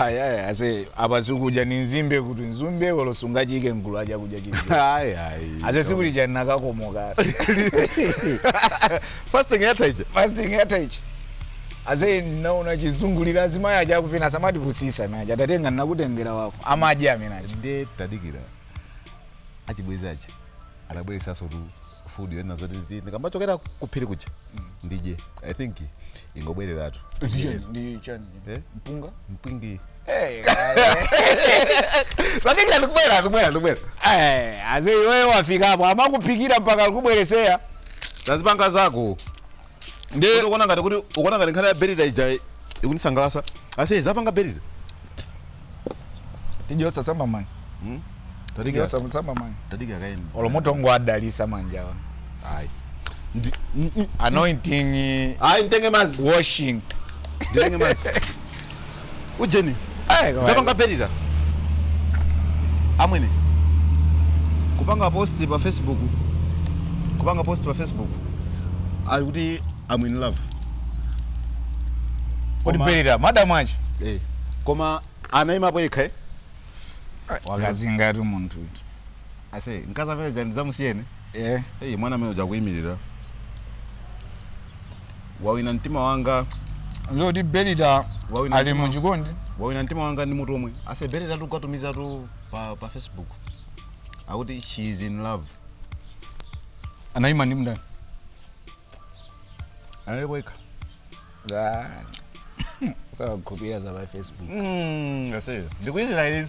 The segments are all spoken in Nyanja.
Ayaya ase apa zikudya ni nzimbe kuti nzimbe olo sungayike mgulu la chakudya chili chonse. Ayi ayi. Ase sikuti chani nakakomoka. Fasting yatha ija. Fasting yatha ija. Ase naona chizungulira azimayi aja akuvina asamatipusisa amene aja takatenga nakutengera wako amadya amene aja. Ndiye tadikira achibwezi aja atibweresanso tu food yonena zoti zi- ndikamachokera kuphiri kuja ndidye i think ingobwereratu ndi chani Eh? mpunga mpwingi Eh, tadikira ndikubwera ndikubwera ndikubwera eh, ase iweyo wafikapo amakuphikira mpaka kubweresera mzipanga zako Ndiye- Kuti ukuona ngati kuti ukuona ngati nkhani ya berita ija ikundisangalasa ase zapanga berita tidye za samba mani tadikira tidye za samba mani tadikira kaye olo mutangodalisa manjawa ayi Ndi- mm, mm. anointing ayi nditenge mazi washing nditenge mazi ujeni Eh, koma- zapanga berita amwene kupanga post pa facebook kupanga post pa facebook ali kuti am in love kodi Koma- berita madamu aja eh. koma anaimapo yekha eh? wakazi ngati munthu uti ase mkazi amene jani zamusiyeni eh Hey, mwana amene uja kuyimirira wawina mtima wanga zoti berita Wawina ali mtima. muchikondi wawina mtima wanga ndi mutu omwe ase berita tu kwatumiza tu pa, pa facebook akuti she is in love anayima ndi ndani analipo yekha sukuziwa za pa facebook mm, aseyo ndikuyizira ili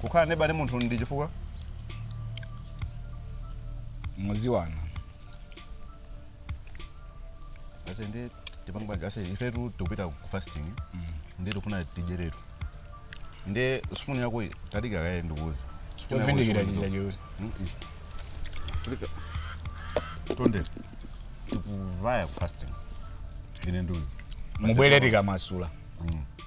kukhala neba ndi munthu ndi chifukwa mumaziwana ase ndi tipange banja ase ifetu tikupita ku fasting nde tikufuna tidyeretu ndi spoon yako iyi, tadika kaye ndikuuza Spoon yako iyi, chovindikira spoon chija yako. choti Mm, iyi. Tadika. tonse tikuvaya ku fasting ine ndiuyu mubwere tikamasula Mm.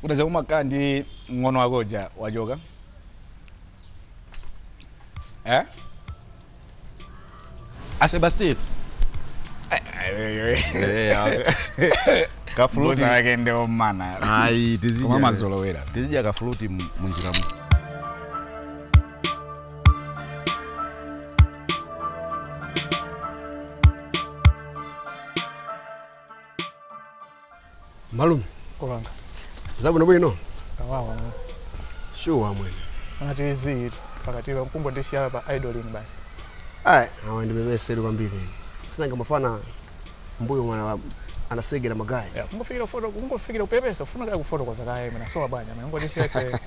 Kodi ase ukumakhala ndi mng'ono wako uja wachoka. Eh? A Sebastian. Kafuluti. Akakeni ndi omana. Ayi tizidya. Koma mazolowera. Tizidya kafuluti mu- munjira mu. malume Kulanga. zabwino bwino Kawawa. shuwa mwene Anati izi itu. Pakati pa mkumbo ndi shala pa idolin basi. ayi awa ndimemeseri kwambiri nanga mafana mbuyo mwana anasegera magaya Ya, kungofikira foto, kungofikira kupepesa, ufuna kaya kufotokoza kaya imena sowa bwanya. Mangoti siyete.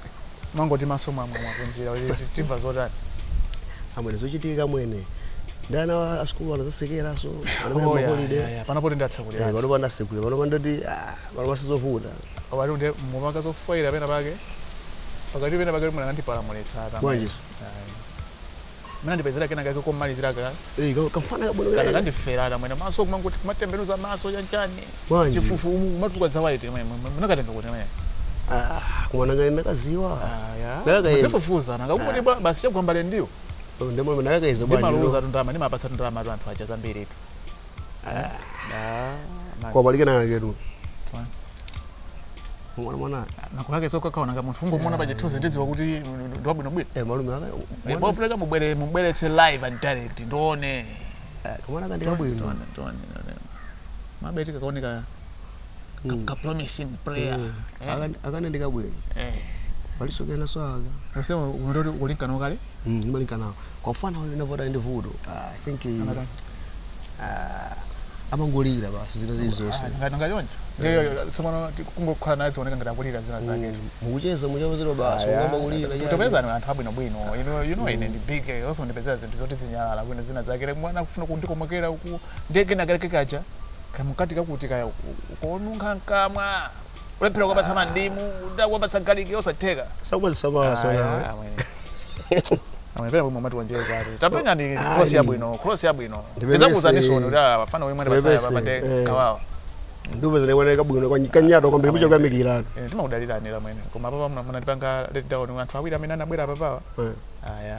mangoti maso mwamwamwa kunjira kuti timva zotani amwene zochitika amwene ndi ana wa- a sikulu anadzatsekeranso anapita Oh, yeah, maholide yeah, yeah. panopo tindatsekulira panopa ndatsekula panopa ndati ah, panopa sizovuta pati kuti mumaka zofoyira pena pake pakati pena pake kuti mwandipalamulitsa atamwe. Bwanjiso? Ayi. mundipezere kena kake komalizira ka Eh, ka- kamfana kabwino kanakake. kandifera amwene maso kumangoti kumatembenuza maso chanchani Bwanji. chifufu umu kumatuka za white amwene munakatenga kuti amwene Ah, kumwana ngati ndakadziwa. aya Ndakayeza. muzifufuza nakakuti bwa basi chagwa m'mbale ndiwo Oh, Ndemo ndakayeza bwanji. ndimaluza tundama ndimapatsa tundama tu anthu aja zambiri tu Ah, man. Pali kena kake tu. mwana mwana nakulake ukakaona ngati munthu ungomuona pa chithunzi ndidziwa kuti ndi wabwinobwino eh malume aka mwana pofunika mubwere mubweretse live and direct ndione eh, mwana aka ndi kabwino Tione, tione, tione. mabeti kakaoneka Mm. ka promising player Eh, aka- kamwana ndi kabwino Eh. palinso kena swaka Nasema unataka kulinkana kale Mm, ndimalinkanako mfana huyu anavuta ndi vuto Ah, i think eh, Anatani? ah, amangolira basi zina zili zonse ngati ngachoncho ndiyo tsopano kungokhala naye zioneka ngati akulira zina zake Mm, mukucheza muchapezedwa basi angoyamba kulira chani. tipezeni anthu abwinobwino You know- you know ine ndi big eh, osandipezera zinthu zoti zinyalala bwino zina zake Like mwana akufuna kundikomokera uku ndege kena kake kaja kamukati kakuti kaya uku- ukonunkha mkamwa kulephera kuwapatsa mandimu ndaka kuwapatsa galiki yosatheka sakumazisamala sonawe amepera pomwe mati wanjeza ati tapenya ndi Ayi. cross yabwino cross yabwino Ndipepese. ndizakuzanisono kuti ah, afana wemwe ndi pasaya Ndipepese, papate eh. kawawa ndume zinaoneka bwino kwa- kanyato kwambiri muja kuyamikira Eh, timakudaliranira amwene koma papa munatipanga let down anthu awiri amene anabwera papawa Eh. aya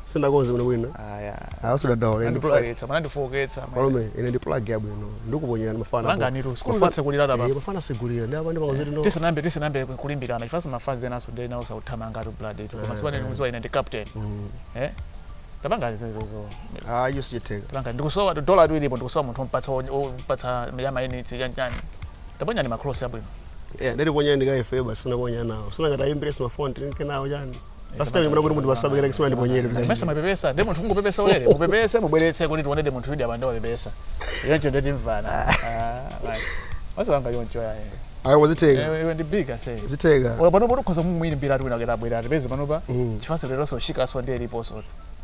sindinakonze bwino bwino aya Ah, usadandaule ndi plug andifooketsa manandifooketsa malume ine ndi plug yabwino ndikuponyerani mafana Langa nitu, sikulu Mafana- zatsekulira tapa. Eh, mafana ndi sikulu yatsekulira apa ndimangozati no tisanambe tisanambe kulimbirana chifukwa mafanzi enaso ndi nawo sakuthamanga ngati blood ito koma simunandidziwe ine ndi captain eh tapanga zimenezo ah icho sichitheka tapanga ndikusowa dola ilipo ndikusowa munthu ompatsa ompatsa ya mayunitsi ya chani taponyani macross abwino eh ndiri ponyani ka ife basi sinaponya nawo sinangati ayimbirenso mafoni tinke nawo chani Pastor ndimuna kuti mundiwasabikira kisuna ndiponyere kuti. mesa mapepesa ndiye munthu ungopepesa ulere mupepese mubweretse kuti tione ndi munthu yudi apanda wapepesa choncho ndeti mvana osapanga choncho yaye Ayi wazitenga. Iwe- iwe ndi big ase Zitenga. ola pano poti ukhoza mumwiri mbira ati wina kuti abwera atipeze panopa Mm. chifukwa leronso ushikaso ndi eliponso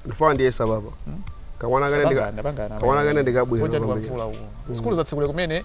Ndi mfana ndiyesa baba. Kamwana kane ndika. Kamwana kane ndikabwera. kwambiri. sikulu zatsekula kumene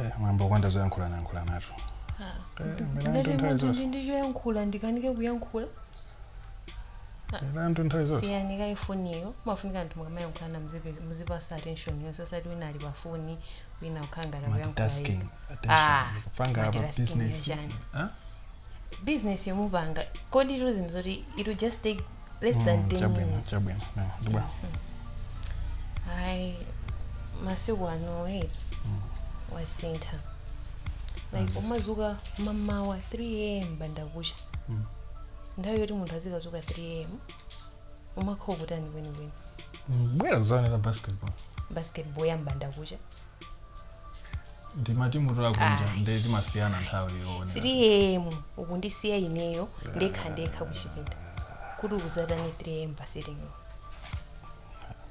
Eh, mwambo palibe zoyankhulana yankhulanatu ngati uli ndi choyankhula ndikanike kuyankhula Irantu nthawi zonse. siyani kaifoniyo mafunika wanthu mukamayankhulana muzipe- muzipasa attention yonse osati wina ali pa foni wina kukhala ngati Multitasking. Ah, Attention. Kupanga apa multitasking business. yachani. Huh? business yomupanga kodi ndi zinthu zoti it will just take less than Mm, 10 chabwino, minutes chabwino. No, ndi bwino. hayi masiku ano hey wasintha like umazuka mamawa 3 am mbandakucha nthawi yoti munthu azikazuka 3 am umakhala ukutani kwenikweni bwera kuzaonera basketball basketball ya mbandakucha ndi matimu akunja Ah. nde timasiyana nthawi yoonera 3 am ukundisiya ineyo ndekha ndekha kuchipinda kuti ukuzatani 3 am pa sitting room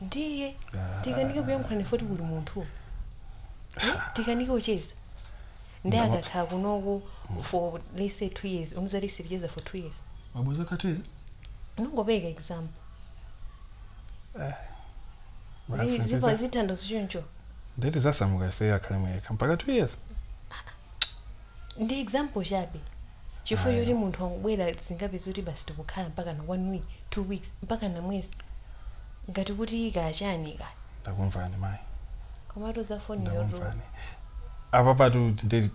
ndiye tikanike kuyankhulana ife poti kuli munthu Eh, tikanike kucheza nde Ndamapsa. akakhala kunoko for let's say two years muzati siticheza for two years mabweza ka two years unongopereka example Zi- zipa- zitsanzo choncho nde tizasamuka ife akhale okha mpaka two years ndi example chabe chifukwa Ayi. choti munthu akabwera zingatheke kuti basi tikukhala mpakana one week two weeks mpakana mwezi ngati kuti kaya chani kaya ndakumvani mayi komatu za foniyotu ndakumvani apapatu ndi-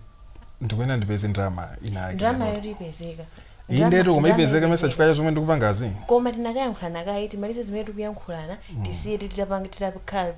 ndikuyenera ndipeze ndalama ina yake ndalama ndalama. yoti ipezeka iyi Ndalama- ndetu koma ndalama ipezeka mesa ipezeka. chifukwa cha zomwe ndikupangazi koma tinakayankhulana kaye timalize zimene tikuyankhulana tisiye titakhala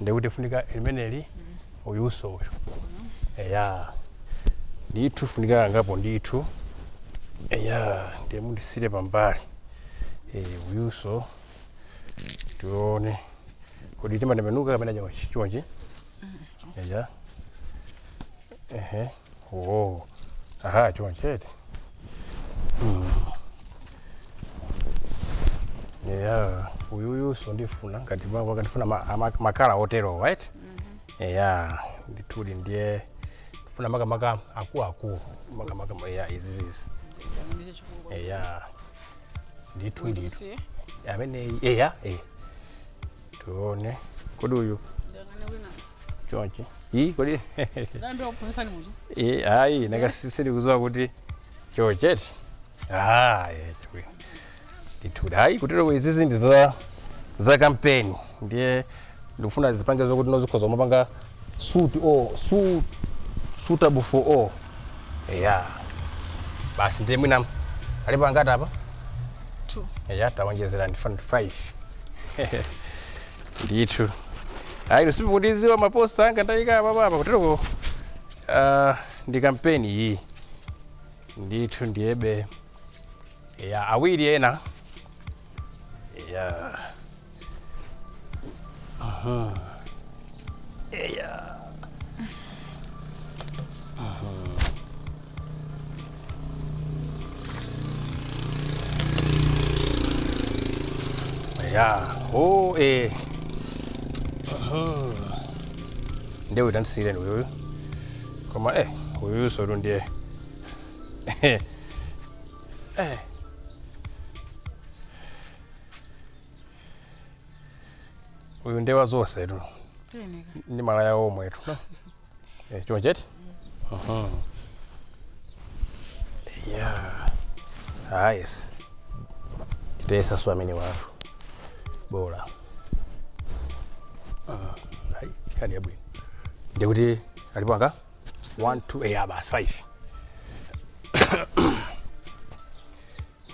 nde kuti lifunika limeneli uyuso uyu eya ndithu afunika angapo ndithu eya ndiye mundisiyire pambali Eh, uyuso tione kodi timatembenuka kapena chonchi chonchi eya ehe Oh. Aha, choncho eti. Mm. Yeah, uyu uyuso ndifuna ngati baba akandifuna ma- ama- makala otero right? Yeah, ndithudi ndiye ndifuna makamaka akuluakulu makamaka ma- yeah, izi izi. Ndicho chikulu. Yeah. Ndithudi. Ndikusiye. Amene yeah, eh. Tuone. Kodi uyu Ndangane kwina. chonchi iyi kodi Ndayamba kuphunzitsani muja. iyi ayi nanga si- sindikudziwa kuti choncho eti Ah, eh, chabwino. ndithu ayi kutero kuti izizi ndi za za kampeni ndiye ndikufuna zipange zokuti nonse mukhoza kumapanga suit o su suitable for all eya basi ndiye mwina alipo angati apa Two. eya tawonjezera ndi 5 ndithu ayi simukudziwa maposta anga ndayika apapa kutereko uh, ndi kampeni iyi ndithu ndiyebe awiri ena ya Aha. Eya. ya oh eh nde uyu tandisiyireni uyuyu koma eh uyuyu sotu ndiye eh uyu ndewa zonse tu ndi malaya omwe tu no? Eh, choncho eti Mhm. yeah ah yes titesa so amene watu bola Ah, ayi nkhani yabwino ndikuti alipo angati 1 2 eh ah, basi 5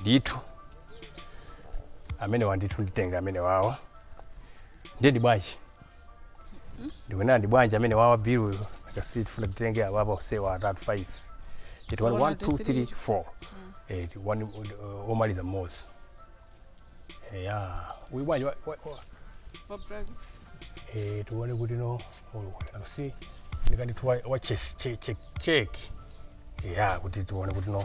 ndithu amenewa ndithu nditenga amenewawa ndiye ndi bwanji ndikunena ndi bwanji amenewawa bill uyu akasi tifuna titenge awa apa osewa atatu 5 eti So, 1 one, 2 two, 3 three. 4 eti one uh, omaliza mmodzi ya uyu bwanji wa- wa- wa- Wa black. eh, tione kuti no akusi ndikandithu wa wa chess che- che- check ya kuti tione kuti no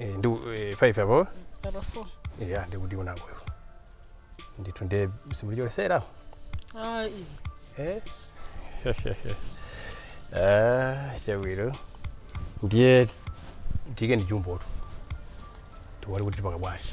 Eh, ndi eh, 5 apo Apa 4. ya ndikuti unango iwo ndithu nde simunachotsere Ah, iyi. eh ah chabwino ndiye ndiike mu jumbo tiona kuti tipanga bwanji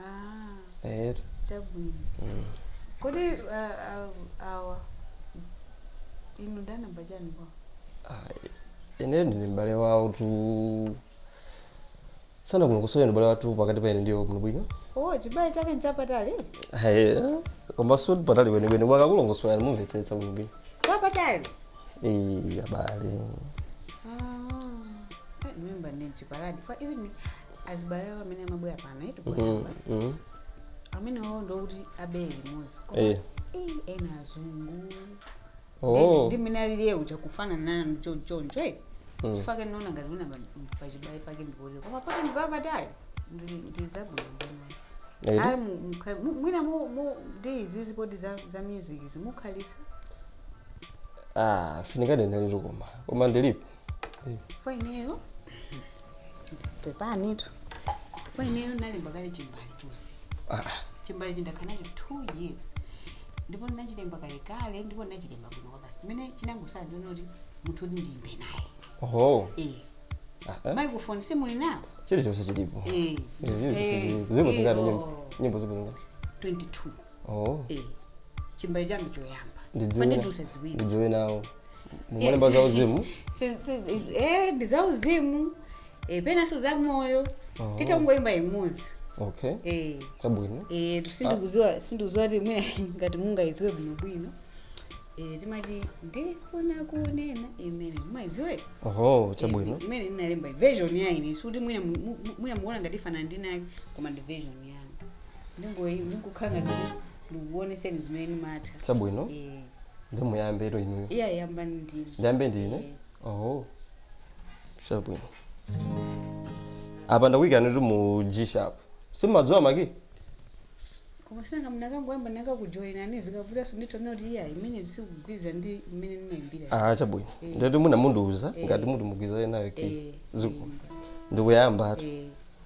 Ah, etu chabwino. mm. Kodi ah, ah, awa inu ndani wa chani kwa? Ah, ineyo ndine m'bale wawo tu sanakulongosolere ndi m'bale wathu pakati pa ine ndi iwo kuno bwino Oh, chibale chake nchapatali? Ayi, koma sikuti patali kwenikweni akakulongosolera mumvetsetsa kuno bwino Chapatali? Eh, abale Ah, eh, mimba ndi mchipaladi. Fa ivi ni azibale awo amene amabwera pano eti koyamba Mhm. amenewawo ndikuti abere limodzi koma Eh. eh, ena azungu Oh. ndi mmene alili uja kufanana nanu chonchoncho e chifukwa chake ndinaona ngati muna pachibale pake ndikuti koma poti ndi papatali ndi- ndi zabwino ndinonso eti? ayi mu- mukha- mu- mwina mu- mu- ndi izizi poti za za music izi mukhalitsa Ah, sindinganene lero koma. Koma ndilipo. koma ineyo pepanitu koma ineyo nalemba kale chimbale chonse chimbale ndakhala nacho two years ndipo ndinachilemba kale kale ndipo ndinachilemba bwino kwabasi chimene chinangotsala ndi chonena kuti munthu oti ndiyimbe naye oho eh Ah, eh. microphone simuli nawo chilichonse chilipo Eh. Izi zilipo, Eh. zilipo. zilipo zingati Eh, nyimbo oh. nyimbo zilipo zingati 22 oh Eh, chimbale changa choyamba ndidziwe pandiduse ziwiri ndidziwe nawo mumalemba za uzimu Si- si- eh, ndi za uzimu eh, penanso za moyo Oh. titangoyimba imodzi okay eh, chabwino eh, sindikudziwa sindikudziwa kuti mwina ngati mungayidziwe bwinobwino eh, timati ndifuna kunena imene mumayidziwa oho chabwino imene ndinalemba version ya ine sikuti mwina mu- mu- mwina mukuona ngati ifanana ndi inayake koma ndi version ndingoyi- ndingokhala ngati kuti ndikukuoneseni zimene ndimatha chabwino Eh, ndi muyambe ndinuyo iya yambani ndinu ndiyambe ndine oh chabwino apa ndakuyikani kuti mu g sharp simumadziwa ma key koma si nanga munakangoyamba ndinakakujoyinani zikavutanso nditaona kuti iya imene sikugwirizana ndi imene ndimayimbira ah chabwino ndati mundi- mundiuza ngati muti mugwirizane nayo key Eh, zikomo ndikuyamba ati eh,